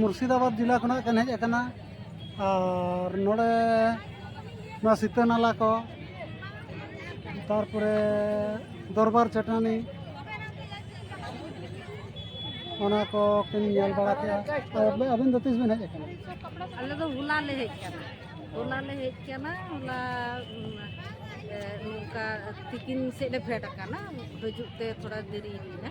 ᱢᱩᱨᱥᱤᱫᱟᱵᱟᱫᱽ ᱡᱮᱞᱟ ᱠᱷᱚᱱᱟᱜ ᱠᱤᱱ ᱦᱮᱡ ᱟᱠᱟᱱᱟ ᱟᱨ ᱱᱚᱰᱮ ᱱᱚᱣᱟ ᱥᱤᱛᱟᱹ ᱱᱟᱞᱟ ᱠᱚ ᱛᱟᱨᱯᱚᱨᱮ ᱫᱚᱨᱵᱟᱨ ᱪᱟᱹᱴᱟᱹᱱᱤ ᱚᱱᱟ ᱠᱚ ᱠᱤᱱ ᱧᱮᱞ ᱵᱟᱲᱟ ᱠᱮᱫᱼᱟ ᱟᱹᱵᱤᱱ ᱫᱚ ᱛᱤᱥ ᱵᱤᱱ ᱦᱮᱡ ᱟᱠᱟᱱᱟ ᱟᱞᱮ ᱫᱚ ᱦᱚᱞᱟ ᱞᱮ ᱦᱮᱡ ᱟᱠᱟᱱᱟ ᱦᱚᱞᱟ ᱞᱮ ᱦᱮᱡ ᱟᱠᱟᱱᱟ ᱦᱚᱞᱟ ᱱᱚᱝᱠᱟ ᱛᱤᱠᱤᱱ ᱥᱮᱫ ᱞᱮ ᱯᱷᱮᱰ ᱟᱠᱟᱱᱟ ᱦᱤᱡᱩᱜ ᱛᱮ ᱛᱷᱚᱲᱟ ᱫᱮᱨᱤᱭᱮᱱᱟ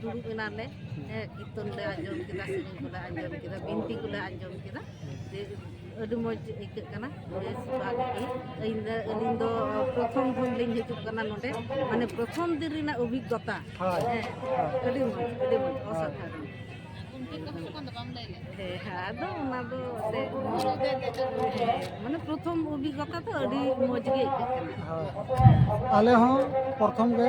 ᱫᱩᱲᱩᱵ ᱮᱱᱟᱞᱮ ᱠᱤᱨᱛᱚᱱ ᱞᱮ ᱟᱸᱡᱚᱢ ᱠᱮᱫᱟ ᱥᱮᱨᱮᱧ ᱠᱚᱞᱮ ᱟᱸᱡᱚᱢ ᱠᱮᱫᱟ ᱵᱤᱱᱛᱤ ᱠᱚᱞᱮ ᱟᱸᱡᱚᱢ ᱠᱮᱫᱟ ᱟᱹᱰᱤ ᱢᱚᱡᱽ ᱟᱹᱭᱠᱟᱹᱜ ᱠᱟᱱᱟ ᱵᱮᱥ ᱵᱷᱟᱜᱮ ᱜᱮ ᱤᱧ ᱫᱚ ᱟᱹᱞᱤᱧ ᱫᱚ ᱯᱨᱚᱛᱷᱚᱢ ᱠᱷᱚᱱ ᱞᱤᱧ ᱦᱤᱡᱩᱜ ᱠᱟᱱᱟ ᱱᱚᱰᱮ ᱢᱟᱱᱮ ᱯᱨᱚᱛᱷᱚᱢ ᱫᱤᱱ ᱨᱮᱱᱟᱜ ᱚᱵᱷᱤᱜᱽᱜᱚᱛᱟ ᱦᱮᱸ ᱟᱹᱰᱤ ᱢᱚᱡᱽ ᱟᱹᱰᱤ ᱢᱚᱡᱽ ᱚᱥᱟᱫᱷᱟᱨᱚᱱ ᱦᱮᱸ ᱟᱫᱚ ᱚᱱᱟ ᱫᱚ ᱢᱟᱱᱮ ᱯᱨᱚᱛᱷᱚᱢ ᱚᱵᱷᱤᱜᱽᱜᱚᱛᱟ ᱫᱚ ᱟᱹᱰᱤ ᱢᱚᱡᱽ ᱜᱮ ᱟᱹᱭᱠᱟᱹᱜ ᱠᱟᱱᱟ ᱟᱞᱮ ᱦᱚᱸ ᱯᱨᱚᱛᱷᱚᱢ ᱜᱮ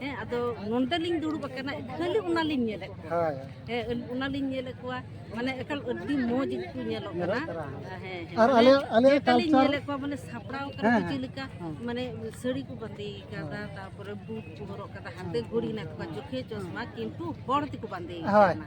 ᱦᱮᱸ ᱟᱫᱚ ᱱᱚᱸᱰᱮ ᱞᱤᱧ ᱫᱩᱲᱩᱵ ᱟᱠᱟᱱᱟ ᱠᱷᱟᱹᱞᱤ ᱚᱱᱟ ᱞᱤᱧ ᱧᱮᱞᱮᱫ ᱠᱚᱣᱟ ᱦᱳᱭ ᱦᱮᱸ ᱚᱱᱟ ᱞᱤᱧ ᱧᱮᱞᱮᱫ ᱠᱚᱣᱟ ᱢᱟᱱᱮ ᱮᱠᱟᱞ ᱟᱹᱰᱤ ᱢᱚᱡᱽ ᱜᱮᱠᱚ ᱧᱮᱞᱚᱜ ᱠᱟᱱᱟ ᱦᱮᱸ ᱦᱮᱸ ᱟᱨ ᱟᱞᱮ ᱟᱞᱮ ᱞᱤᱧ ᱠᱟᱞᱪᱟᱨ ᱧᱮᱞᱮᱫ ᱠᱚᱣᱟ ᱢᱟᱱᱮ ᱥᱟᱯᱲᱟᱣ ᱠᱟᱱᱟ ᱠᱚ ᱪᱮᱫ ᱞᱮᱠᱟ ᱢᱟᱱᱮ ᱥᱟᱹᱲᱤ ᱠᱚ ᱵᱟᱸᱫᱮ ᱠᱟᱫᱟ ᱛᱟᱨᱯᱚᱨᱮ ᱵᱩᱴ ᱠᱚ ᱦᱚᱨᱚᱜ ᱠᱟᱫᱟ ᱦᱟᱱᱛᱮ ᱜᱷᱩᱲᱤ ᱦᱮᱱᱟᱜ ᱛᱟᱠᱚᱣᱟ ᱪᱳᱠᱷᱮ ᱪᱚᱥᱢᱟ ᱠᱤᱱᱛᱩ ᱦᱚᱲ ᱛᱮᱠᱚ ᱵᱟᱸᱫᱮ ᱦᱳᱭ ᱠᱟᱱᱟ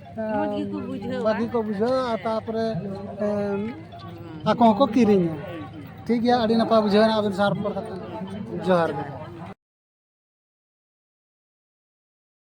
ᱵᱷᱟᱹᱜᱤ ᱠᱚ ᱵᱩᱡᱷᱟᱹᱣᱟ ᱛᱟᱨᱯᱚᱨᱮ ᱟᱠᱚ ᱦᱚᱸᱠᱚ ᱠᱤᱨᱤᱧᱟ ᱴᱷᱤᱠ ᱜᱮᱭᱟ ᱟᱹᱰᱤ ᱱᱟᱯᱟᱭ ᱵᱩᱡᱷᱟᱹᱣᱱᱟ ᱟᱵᱮᱱ ᱥᱟᱶ ᱨᱚᱯᱚᱲ ᱠᱟᱛᱮ ᱡᱚᱦᱟᱨ ᱜᱮ